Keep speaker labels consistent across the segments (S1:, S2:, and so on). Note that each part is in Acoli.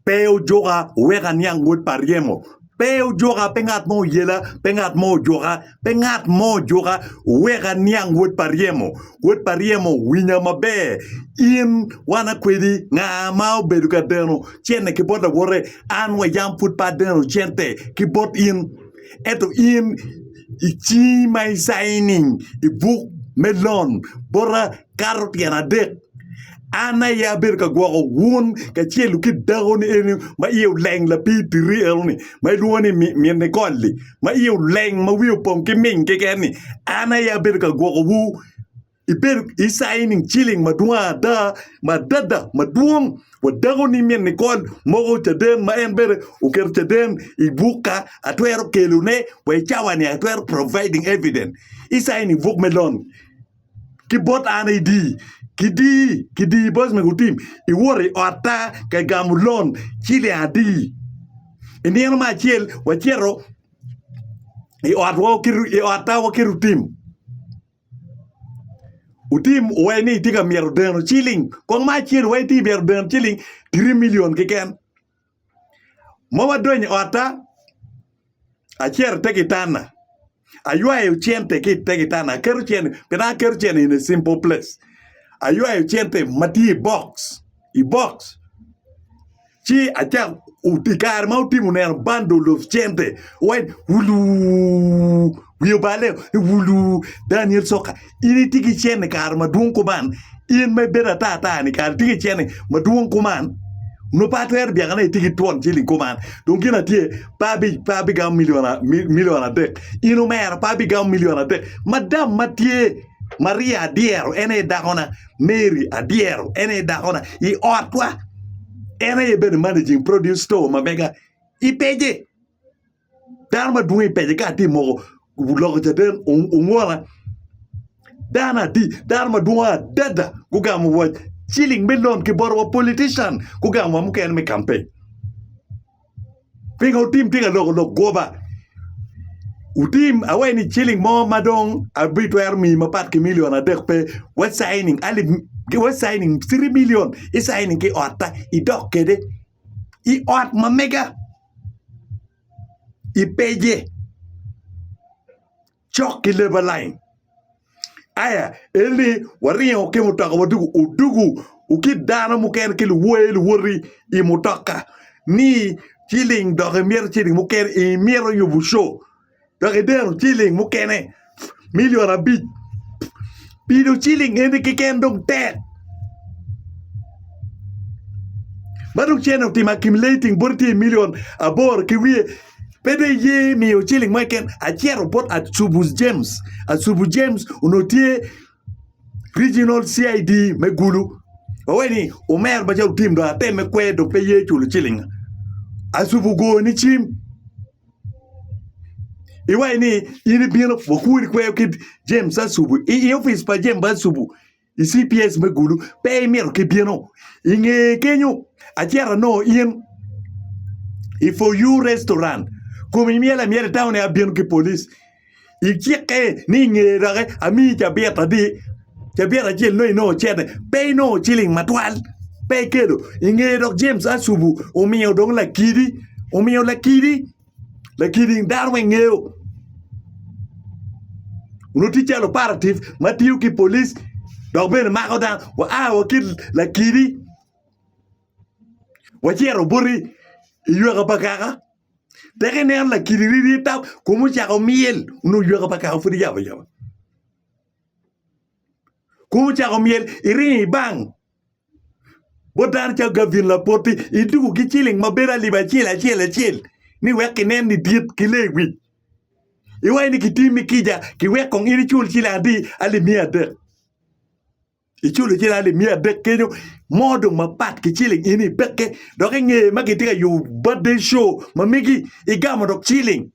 S1: Pe ojuka wek aniang wod pa ryemo, pe ojuka, pe ngat mo oyela, pe ngat mo ojuka, pe ngat mo ojuka wek aniang wod pa ryemo. Wod pa ryemo, winya maber, in wana kwedi nga ma obedo ka deno cente ki bot lawote? An wa yam pud pe adeno cente ki bot in. Ento in i cingi ma isaini i buk me lon bota kato tyen adek. An aye abedo ka gwoko wun kacel ki dakoni eni ma iye oleng lapir tiri enoni ma ilwongo ni min Nikol-li ma iye oleng ma wiye opong ki ming keken-ni. An aye abedo ka gwokowu. Ibedo icayi nining ciling madwong ada ma adada madwong wa dakoni min Nikol moko caden ma en bene oketo caden i bukka atwero kelone wa i cawa-ni I atwero providing evidence. Icayi nining buk me loan? ki bot an i di ki di ki di bos me gutim iwot i otta ka igamo lon ciling adi i nino me acel wacito i otwa i otta wa ki lutim lutim owaco ni itye ka myero deno ciling kong ma acel wa itye ka myero deno ciling tiri million keken Ma wadonyo i otta, acito ite kitanda, aywayo cente ki ite kitanda aketo cente pi naka aketo cente in a simple place aywayo cente ma tye i bok i bok ci acako i kare ma otimo neno bandol of cente wai wuluu wiye obale ni wuluu Daniel coka. in itye ki cen i kare madwong kuman, in ma ibedo ata ata ni kara itye ki cen madwong kuman nongo pe atwero byaka ni itye ki twon ciling kuman dong gin atye pe abi pe abigamo milion a milion adek in omera pe abigamo milion adek madam ma tye Maria adyero en aye dakona Mary adyero en aye dakona i otwa en aye bedo managing produce store ma mega ipece Dano madwong i pece ka atye moko loko caden ongona dano adi dano madwong adada gugamo wa ciling me lon ki bot wa politician gugamo wa mukene me campaign pingo tim tye ka loko lok goba wutim awaci ni ciling mo ma dong abitwero miyi mapat ki milion adek pe wa caining alip wa caining citi milion i caining ki otta idok kwede. i ot ma mega i pege cok ki leba lain aya enoni waringo ki mutoka wadugu odugu wa ki dano mukene ki luwotgi luwoti i mutoka ni ciling doki mito ciling mukene imito yubu co dok ideno ciling mukene milion abic pi dong ciling eni keken dong tek ma dong cene otimo akimileting bot tye i milion aboro ki wiye pe dong iye miyo ciling mo keken acito bot Atubu James, Atubu James onongo tye Regional CID me Gulu ma weni omero macalo otim dong ateme kwer dong pe ye culo cilinga Atubu ogoni cim. iwaco ni in ibino wakubo nikweyo ki James Asubu i opic pa James Asubu i cps me gulu pe imito ki bino i nge kenyo acito anongo in i for you restaurant kome imyelo amyela i town aye abino ki police. Icikke ni i ngeye doki amiyi cabit adi, cabit acel nongo inongo ocente, pe inongo ciling matwal, pe ikelo. I ngeye dok James Asubu omiyo dong lakidi, omiyo lakidi, lakidi dano weng ngeyo. Onongo tye calo operative ma tiyo ki polic dok bene mako dano. Waa wa ki lakidi wacito boti i yweka pa kaka. Peke ineno lakiri riri tam kome ocako myel onongo ywaka pa kaka pud iyabo ayaba. Kome ocako myel iringo ibang bot dano calo Gavin Lapoti ituko ki ciling ma bedo alip acel acel acel ni wek kinen ni dit ki lewic. Iwaco ni kitimi kica ki wek kong in icul ciling adi alip miya adek. iculo cel alip miya adek kenyo mo dong mapat ki ciling in ipekke dok inge ma kitye ka yubo birthday show ma megi igamo dok ciling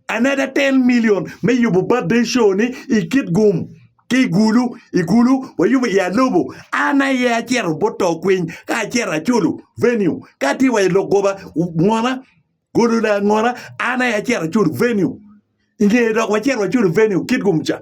S1: another ten million me yubo birthday show ni i Kitgum ki i Gulu i Gulu wayubo i Alobo an aye acito bot to kwiny ka acito aculo venue ka tye wa i lok goba ngona Golole angona an aye acito aculo venue inge dok wacito waculo venue Kitgum ca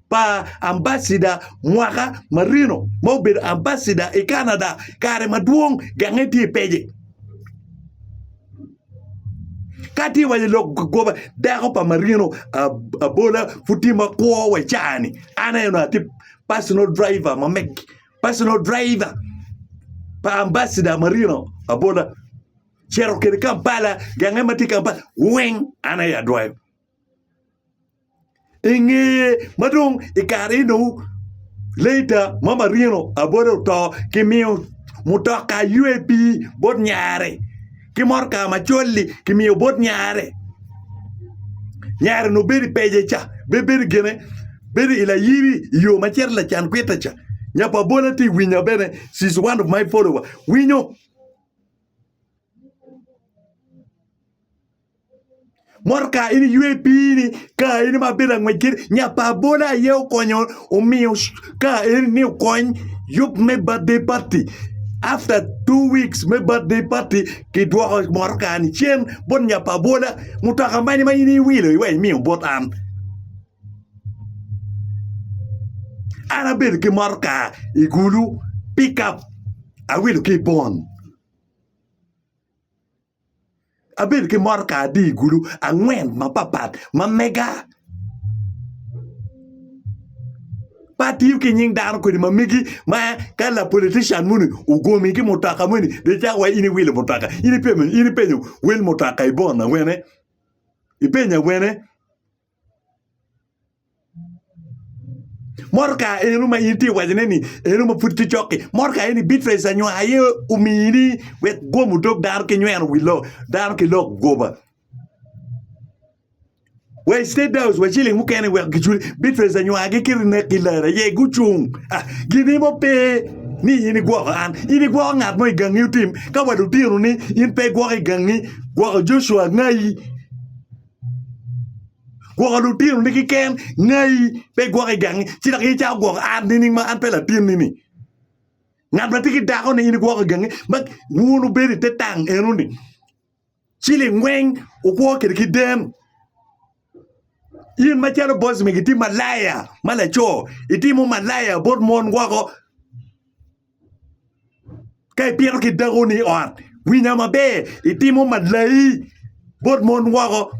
S1: pa ambacida mwaka marino ma obedo ambacida i Canada kare madwong genge tye i pec-ci. Ka tye wa i lok goba dako pa marino abola pud tye ma kwo wa i caa-ni an aye onongo atye pacinal driver ma meg pacinal driver pa ambacida marino abola ocito kwede Kampala genge ma tye Kampala weng an aye adwoyo. I ngeye ma dong i kare eno later ma marino abole oto kimiyo mutoka UAP bot nyare ki motoka macol-li kimiyo bot nyare nyare onongo bedo i pece ca bene bedo gine bedo i layiri i yo ma cito lacan kwitte ca nya pa bole tye ka winya bene she is one of my follower winyo. Motoka eni ywe piini ka eni ma abedo ka ngwec kiti nyo apa abola aye okonyo omiyo ka eni ni okony yub me birthday party after two weeks me birthday party kidwoko motoka ni cen bot nyo pa abola mutoka mene ma in iwilo iweko imiyo bot an, an abedo ki motoka i kulu pick up awilo ki i pol. Abedo ki mot ka adhi i gulu angwen mapapat ma mega. Pe atiyo ki nying dano kwede ma megi ma ka lapolitician moni ogomi ki mutoka moni dong icako iwaco ni in iwilo mutoka, in ipenyo wel mutoka i bon awene? Ipenyo awene? Motoka eno ma in itye ka wacone ni eno ma pud pe cok-ki, motoka eni Beatrice anywar aye omini wek gwomo dog dano ki nyweno wi lok dano ki lok goba. Wa i state house wa ciling mukene wek giculi Beatrice anywar gikiti nek ki lara aye gucung ah gini mo pe ni in igwoko an, in igwoko ngat mo i gangi otim ka wa lutinoni in pe igwoko i gangi gwoko Joshua angai. Gwoko lutinoni kiken ngai pe igwoko i gangi ci dok in icako gwoko an nining ma an pe latinni-ni? Ngat ma tye ki dakoni in igwoko i gangi ma wun wubedo ite tang enoni ci lingweng wukwo kwede ki den in macalo boc mege itye malaya ma laco itimo malaya bot mon woko. Ka ibino ki dakoni i ot winya maber itimo malayi bot mon woko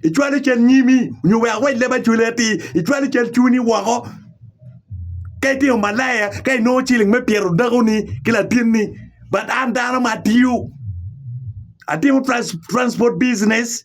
S1: icwalo cal nyimi nyo wek awac leb acwali atir icwalo cal cwinyi woko ka itimo malaya ka inongo ciling me pito dakoni ki latinni but an dano ma atiyo atimo transport business.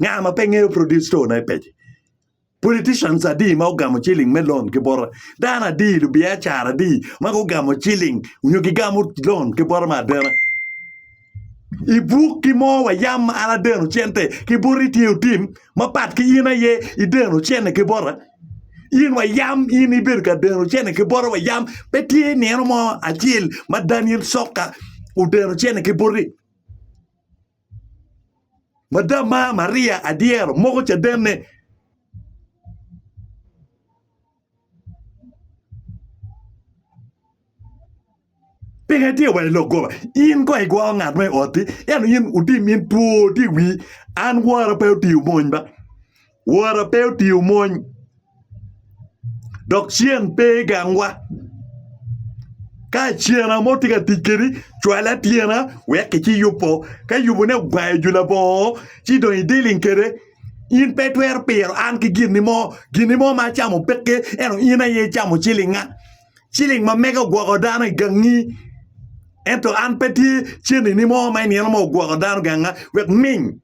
S1: Nga ma pe ngeyo produce store na i peci? Politicians adi ma ogamo ciling me loan ki bota? Dano adi, lubiacara adi ma gugamo ciling nyo gigamo loan ki bota me adena? I buk ki mo wa yam ma an adeno cente ki bota itye otim ma pat ki in aye ideno cene ki bota? In wa yam in ibedo ka deno cene ki bota wa yam pe tye nino mo acel ma Daniel Sokka odeno cene ki boti? Mada mar Maria adyero moko cadenne. Peka itye wa i lok goba. In ko igwoko ngat mo i otti, ento in otim in two tye i wii. An wora pe otiyo mony ba. Wora pe otiyo mony, dok ceng pe gangwa. Ka cena mo tye ka tic kedi, cwal atyena wek kici yubo. Ka yubone ogwayo ju labongo ci dong idealing kede, in pe itwero piro an ki gin mo. Gin mo ma acamo peke, ento in aye icamo cilinga. Ciling ma mega ogwoko dano i gangi, ento an pe tye ceni mo ma i nino mo ogwoko dano ganga wek ming.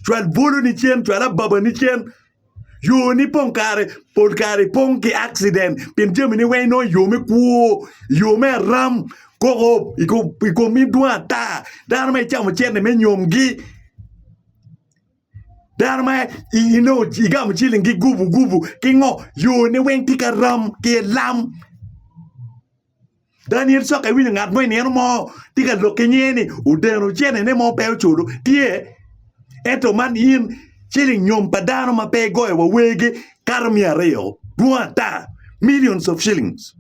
S1: cwal bwoloni cen, cwal ababani cen. Yoni pong kare pol kare pong ki accident pien jamini weng inongo i yo me kwo, i yo me aram, koko i komi dwong ata. Dano ma icamo cente me nyomgi, dano ma inongo igamo cilingi gubugubu ki ngo, yoni weng tye ki aram ki lam. Daniel coka iwinyo ngat mo i nino mo tye ka lok ki nyinge ni odeno cenene mo pe oculo? Tye. Ento man in ciling nyom pa dano ma pe igoyo wa wegi kato miya aryo, dwong ata, millions of shillings.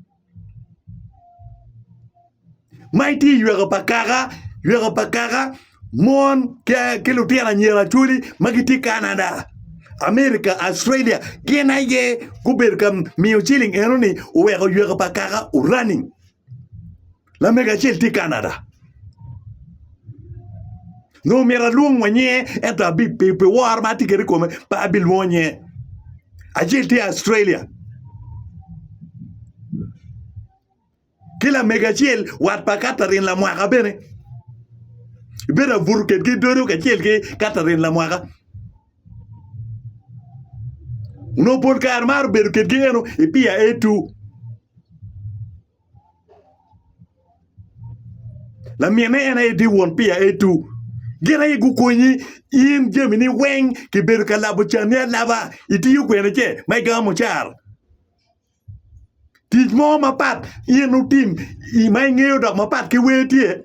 S1: Ma itye i yweko pa kaka, yweko pa kaka. mon ki lutino anyira acholi ma gitye i Canada, America, Australia gin aye gubedo ka miyo ciling enoni oweko yweka pa kaka o running lamego acel tye i Canada nyo myero alwong wa nyinge ento pi woro ma atye kwede i kome pe abilwongo nyinge acel tye i Australia. Ki lamego acel wat pa Katherine lamwaka bene ibedo abuto kedgi i dodo kacel ki Katherine lamwaka. Onongo pol kare maro bedo kedgi eno i Pier A2. Laminne en aye tye won Pier A2. Gin aye gukonyi in jamini weng kibedo ka labo canni alaba, itiyo kwene ce ma igamo mucara. Tic mo mapat in wutim ma ingeyo dok mapat ki wer tye?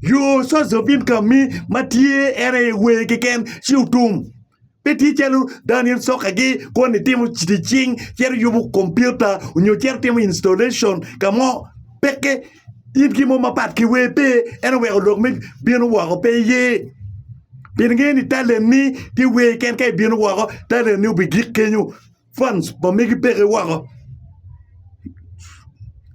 S1: Your source of income ni ma tye en aye wer keken ci wutum pe tye calo dano in soka gi koni itimo tic cing cito iyubo kompiuta nyo cito itimo installation ka mo peke in gin mo mapat ki wer pe ento weko lok me bino woko pe iye pien ingeyo ni talent ni tye wer keken ka ibino woko talent ni obigik kenyo. Funds ma megi peke woko.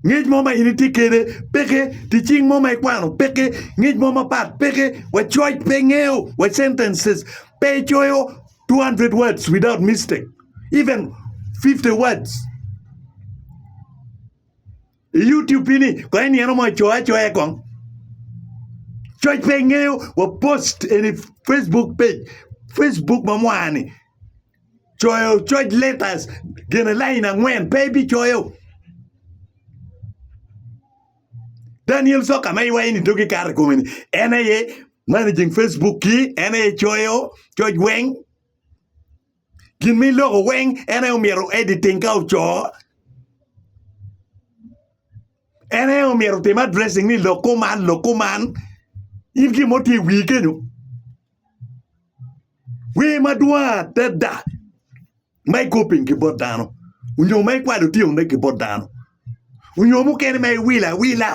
S1: Ngec mo ma in itye kede peke, ticing mo ma ikwano peke, ngec mo mapat peke, wa coc pe ngeyo, wa sentences pe coyo 200 words without mistake, even 50 words. I YouTube ini kong inino mo icoyo acoya kong. Coc pe ingeyo wa post eni Facebook page, Facebook ma mwani. coyo coc letters gine lain angwen pe ibicoyo Daniel Soka ma iwaco ni dogi kato i kome-ni en aye managing Facebook-ki en aye coyo coc weng gin ma iloko weng en aye omyero editing ka oco en aye omyero otim addressing ni lok kuman lok kuman in gin mo tye i wii kenyo. Wer madwong adada ma igoping ki bot dano onyo ma ikwalo otyeno ki bot dano onyo mukene ma iwilo awila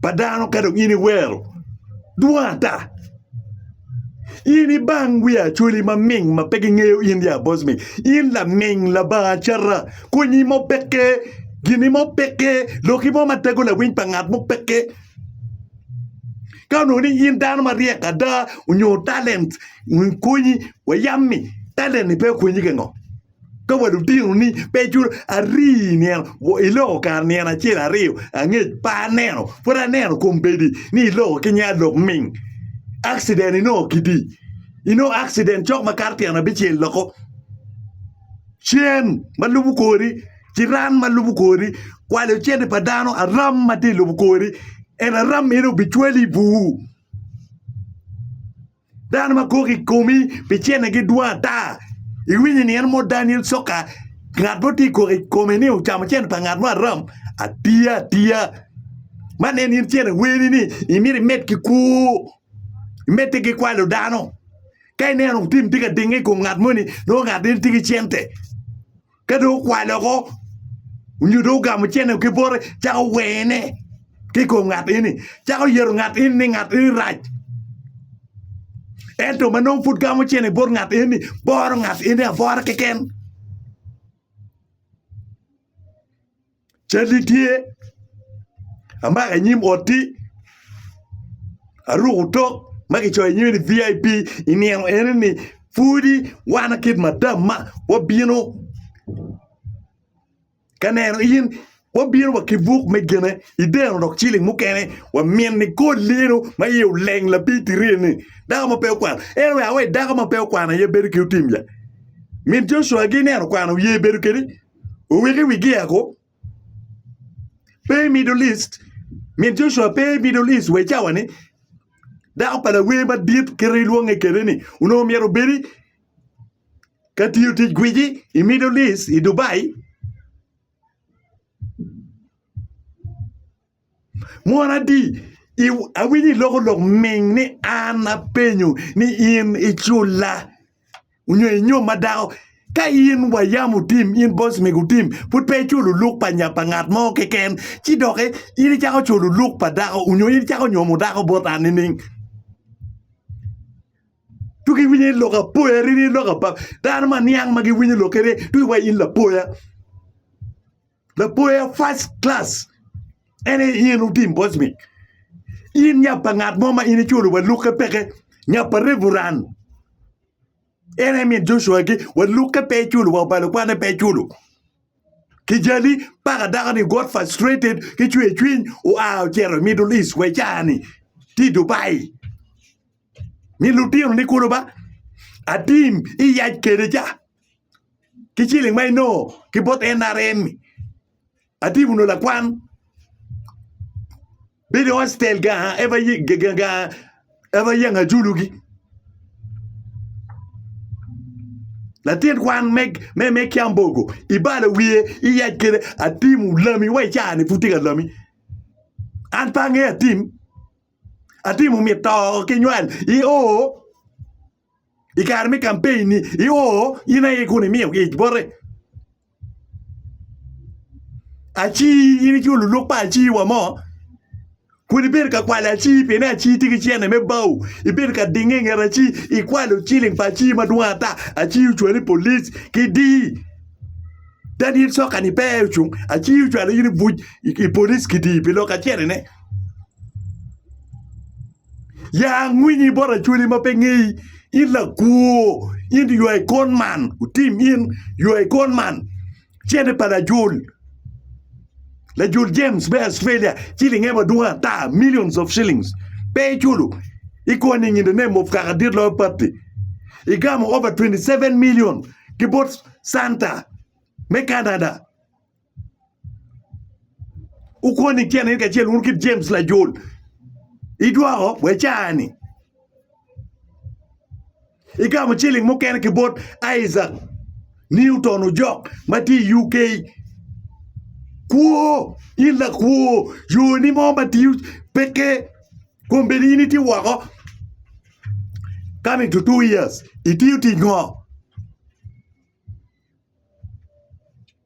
S1: pa dano ka dong in iwero dwong ata in ibang wi Acholi ma ming ma pe gingeyo in ya boss me in laming labanga cata konyi mo peke gini mo peke loki mo ma tego lawiny pa ngat mo peke. Ka onongo ni in dano maryek ada onyo talent konyi wa yam ni talent ni pe okonyi gin ngo ka wa lutino ni peculo ari nino iloko kare nino acel aryo angec pe aneno pud aneno kombeddi ni iloko ki nge alok ming accident inongo kidi inongo accident cok makato tyen abicel loko. cen ma lubo kori, ciran ma lubo kori, kwalo cente pa dano, aram ma tye i lobo kori, ento aram meno obicwali i bur. Dano ma kok i komi pi cente gidwong ata. Iwinyo ni en mo Daniel Coka, ngat mo tye kok i kome ni ocamo cente pa ngat mo aram? Atiya atiya. Man en in cente weni ni imito imed ki kwo, imedde ki kwalo dano. Ka ineno lutim tye ka dinge i kom ngat moni, nongo ngat meno tye ki cente. Ka dong okwalo oko, onyo dong ogamo cente ki bote, cako wene ki kom ngat eni. Cako yeto ngat eni ni ngat eni rac. Ento ma nongo pud gamo cente bot ngat eni, boro ngat eni abora keken. Calli tye, amako i nyim otti, aruko otok ma kicoyo i nyime ni vip. I nino enoni pwodi wan kit madamma wabino ka neno in wabino wa ki buk me gine ideno dok ciling mukene wamin nikol lino ma iye oleng lapiny tirini dako ma pe okwano en aye awer dako ma pe okwano aye bedo ki otim-lla min Jocwa-gi ineno okwano ye bedo kedi? oweke wigi eko pe i Middle East, min Joshua pe i Middle East wa i cawani, dako pa lawer madit kit ma ilwonge kwede-ni onongo myero obedi ka tiyo tic gwici i Middle East i Dubai. Mono adi awinyo iloko lok ming ni an apenyo ni in iculla onyo inyom ma dako? Ka in wa yam otim in boss mego otim pud pe iculo luk pa nya pa ngat mo keken ci doki in icako culo luk pa dako onyo in icako nyomo dako bot an nining? Tuk iwinyo ni lok apoya ri ni lok abab dano ma niang ma giwinyo lok kene tuk iwaci in lapoya. Laboya first class en aye in otim boss me in nya pa ngat mo ma in iculo wa lukke peke nya pa revuran en aye min Joshua gi wa lukke pe iculo wa obalo kwane pe iculo kijali paka dako ni got frustrated ki cwer cwiny oa ocito i middle east wa i caa ni tye i Dubai. ni lutino ni kulu ba atim iyac kede ca ki ciling ma inongo ki bot NRM ni atim onongo lakwan bedo i hostel ga eva yeng ajulu gi latin kwan me kiambogo ibalo wiye iyac kede atim lami wa icani pud tye ka lami an pe ange atim. Atimo myero to ki nywal i o i kare me campaign ni i o in aye kun imiyo gi ic bote aci in iculo luluk pa aci wa mo kun ibedo ka kwalo aci pien aci tye ki cene me bao ibedo ka dinge inget aci ikwalo ciling pa aci madwong ata aci ocwali i police ki di dadi soka ni pe aye ocung aci ocwalo in i buc i police ki di pi lok acene ne. Ya angwinyi bot acholi ma pe ngeyi, in lakwor, in ywa i kon man, otim in ywa i kon man, cente pa lajol, lajol James me Australia ciling ae madwong ata millions of shillings pe iculo, ikonyo i nge ne mof kaka dit loyo patti, igamo over 27 million ki bot Santa me Canada. Wukon i tyene ni kacel wun kit Jems lajol, idwoko bwa caa-ni, igamo ciling mukene ki bot Isaac Newton ojok ma tye i UK. Kwo, in lakwo, yoni mo ma tiyo peke, kombeddi in itye woko coming to two years, itiyo tic ngo?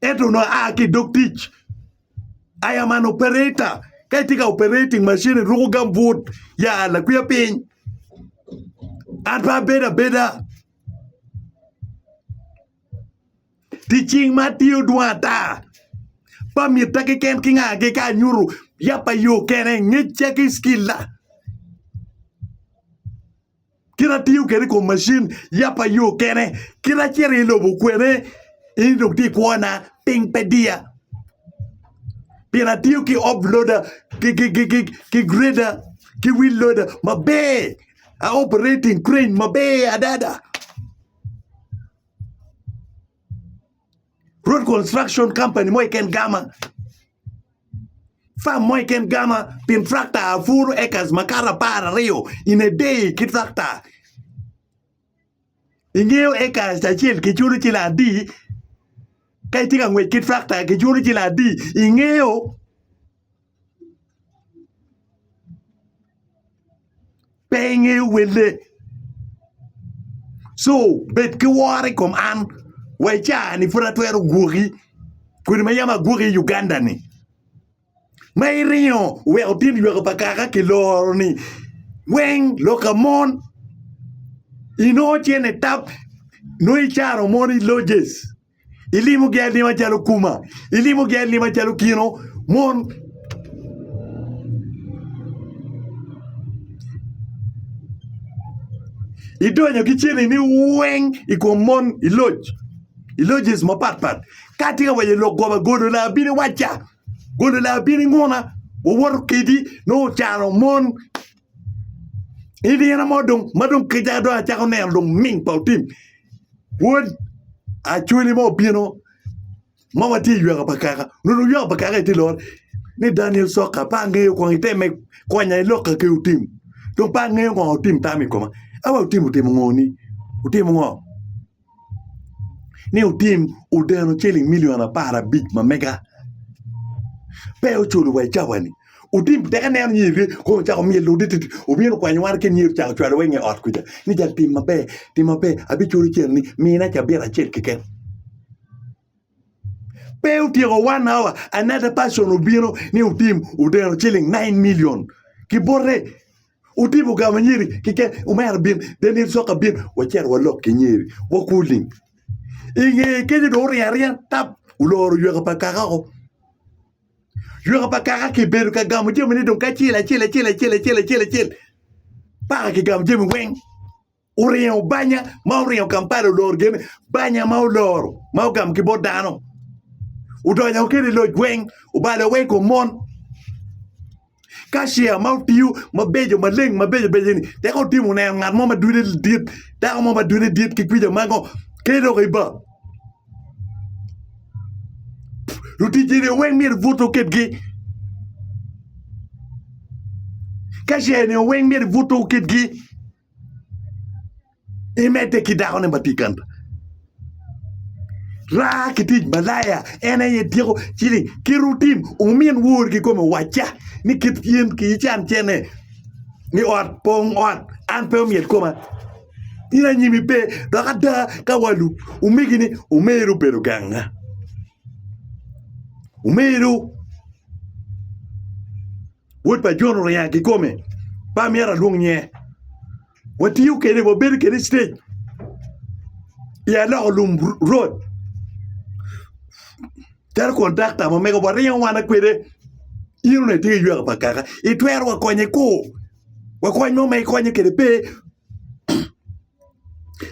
S1: Ento onongo aa ki i dog tic. I am an operator. Ka itye ka operating macin iruko gambut, yaa lakwia piny. An pe abedo abeda. Tic cing ma atiyo dwong ata. Pa mitta keken ki nga keken anyuto yap pa yo kene, ngecca ki cilla. kit atiyo kede kom macin yapa yo kene kit acito i lobo kwene in dong ti kwona piny pe diya pien atiyo ki op loda ki greda ki wil loda maber a operating crane maber adada Road construction company mo keken gama, farm mo keken gama pien tractor apuru acres makato apar aryo in a day ki tractor ingeyo acres acel kiculo ciling adi ka itye ka ngwec ki tractor kiculo ciling adi ingeyo. Pe ingeyo welle, co bed ki woro i kom an wa i caa-ni pud atwero gwoki kodi ma yam agwoki i Uganda-ni ma iringo iweko tyen lywaka pa kaka kiloro-ni weng loka mon inongo cente tap nongo icaro mon i lodges. Ilimo gelli macalo kuma, ilimo gelli macalo kino mon. Idonyo ki ceni ni weng i kom mon i loc, i lodges mapatpat. Ka tye ka waco lok goba golo laa bini waca, golo laa bini nguna, wawoto kedi nongo cano mon. I nino mo dong ma dong kecca dong acako neno dong ming pa otim wod acholi mo obino ma watye i yweka pa kaka nongo dong yweka pa kaka aye tye lor ni Daniel Sokka pe angeyo kong iteme konya i lokka ki otim dong pe angeyo ngo otim tamo i koma awa otim otimo ngo ni otimo ngo. ni otim odeno ciling milion apar abic ma mega pe oculo wa i cawani otim tek aneno ni ere kong ocako myel lode titi obino okwanyo wan kit myel ocako cwalo wa i nge ot kwica ni jang tim maber tim maber abiculo cen ni mina cabit acel keken Pe otyeko one hour another person obino ni otim odeno ciling nine million kibote otim ogamo nyeri keken omera bin Daniel soka bin wacito walok ki nyeri wakur lim inge kenyo dong oryeny aryenya tap oloro yweka pa kaka o yweka pa kaka kibedo ka gamo jamine dong ki acel acel acel acel acel paka kigamo jami weng. oringo banya ma oringo Kampala oloro gene banya ma oloro ma ogamo ki bot dano odonyo kede i loc weng obalo weng kom mon kacia ma otiyo mabeco maleng mabeco beco ni tek otimo neno ngat mo ma dude dit dako mo ma dude dit ki kwica ma ngo ter dok iba lutic eni weng myero buto kitgi kacia eni weng myero buto kitgi imedde ki dakone ma tye i kanta raa ki tic malaya en aye tyeko ciling ki rutin wumin wor kikome wacca ni kit in ican cene ni ot pong ot an pe omyel koma in anyimi pe dok ada ka wa lub omegi ni omeri obedo ganga omego Wod pa Jon oringo aa kikome, pe amyero alwong nyinge. Watiyo kede, wabedo kede i citec i aloko lum rod. Calo kontakta ma mega waringo wana kwede, in onongo itye ki yweka pa kaka, itwero wa konye kur? Wa kony mo ma ikonye kede pe?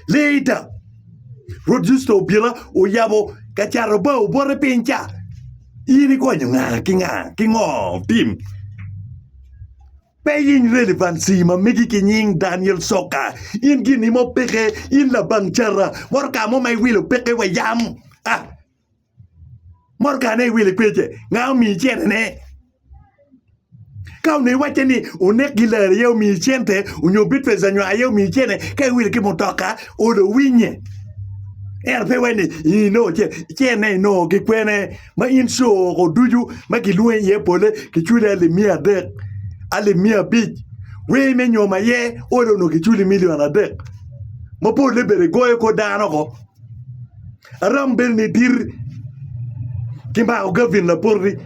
S1: Later, Rwot Yusto obila oyabo ka cato bao bote piny ca. In ikonyo nga ki nga ki ngo? Tim. Pe yiny relevancy ma megi ki nying Daniel Soka. In gin imo peke in labang cara moto ka mo ma iwilo peke wa yam. Ah. Motka ne iwili pece, nga omiyi cente ne? Ka onongo iwacce ni onek gilar aye omiyi cente, onyo bit pesa nyo aye omiyi cente, ka iwili ki mutoka, ode owinye. Ento pe iwacce ni inongo ce, cente ne inongo ki kwene? Ma in co oko ducu ma kilwongi iye pole kiculi alip miya adek, alip miya abic, wer me nyom aye ode onongo kiculi milion adek. Ma polle bene igoyo kor dano oko. Aromo bedo ni dit kimako Gavin lapoti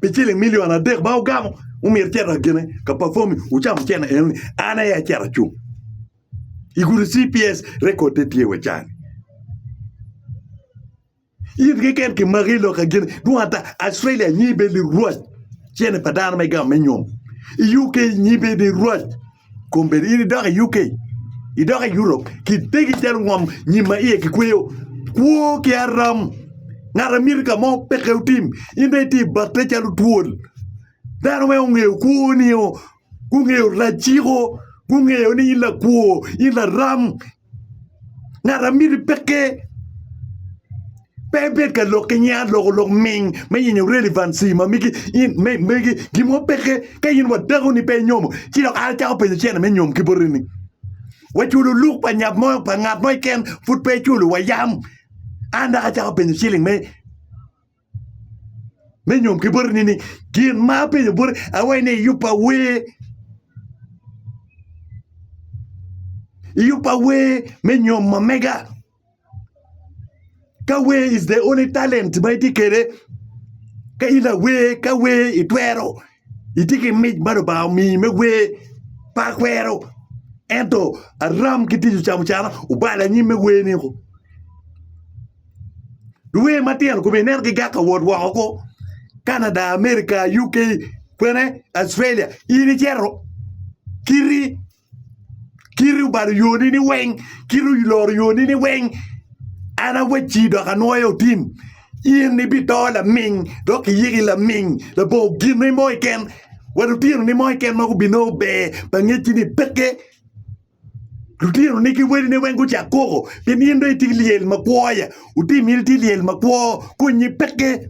S1: pi ciling milion adek ma ogamo omyero icit akene ka pafomi wucamo cente eno ni an aye acito acung igudo cps rekod ne tye wa cani. In keken kimaki i loka gini dwong ata. Australia nyi bed ni rwac cene pa dano me gamo me nyom. I UK nyi bed ni rwac kombeddi. In idok i UK, idok i Europe kitegi calo ngom nyim ma iye kikweyo. Kwo ki aram. Ngat a miti ka mo peke otim. In dong itye ibate calo twol. Dano weng ongeyo kwoni-o. Gungeyo raciko. Gungeyo ni in lakwo, in laram. Ngat a miti pekke pe ebed ka lok ki nying aloko lok ming me yenyo relevancy ma megi in me megi gin mo pekke ka in wadako ni pe inyomo ci dok an acako penyo cene me nyom ki boti ni waculo luk pa nyat mo pa ngat mo keken pud pe iculo wayam an dok acako penyo ciling me Me nyom ki boti ni gin ma apenyo boti awaci ni iyubba wer iyubba wer me nyomo mega ka wer is the only talent ma itye kwede ka in awer ka wer itwero itye ki mic ma Lubanga omiyi me wer pe akwero ento aram ki tic ocamucana obalo anyim me wer-ni. Luwer matino kome ineno gigak ka wot woko ko Canada, America, UK kwene Australia in icito kiti kiti obalo yoni ni weng kiti oloro yoni ni weng an awacci dok anwoyo otim in ibito laming dok iyiki laming labongo gine mo keken wa lutinoni mo keken ma gubinongo ber pa ngecci ni peke. Lutinoni ki wadine weng gucak koko pien in dong itye ki lyel makwo-ya. Wutimine tye lyel makwo, konnye peke.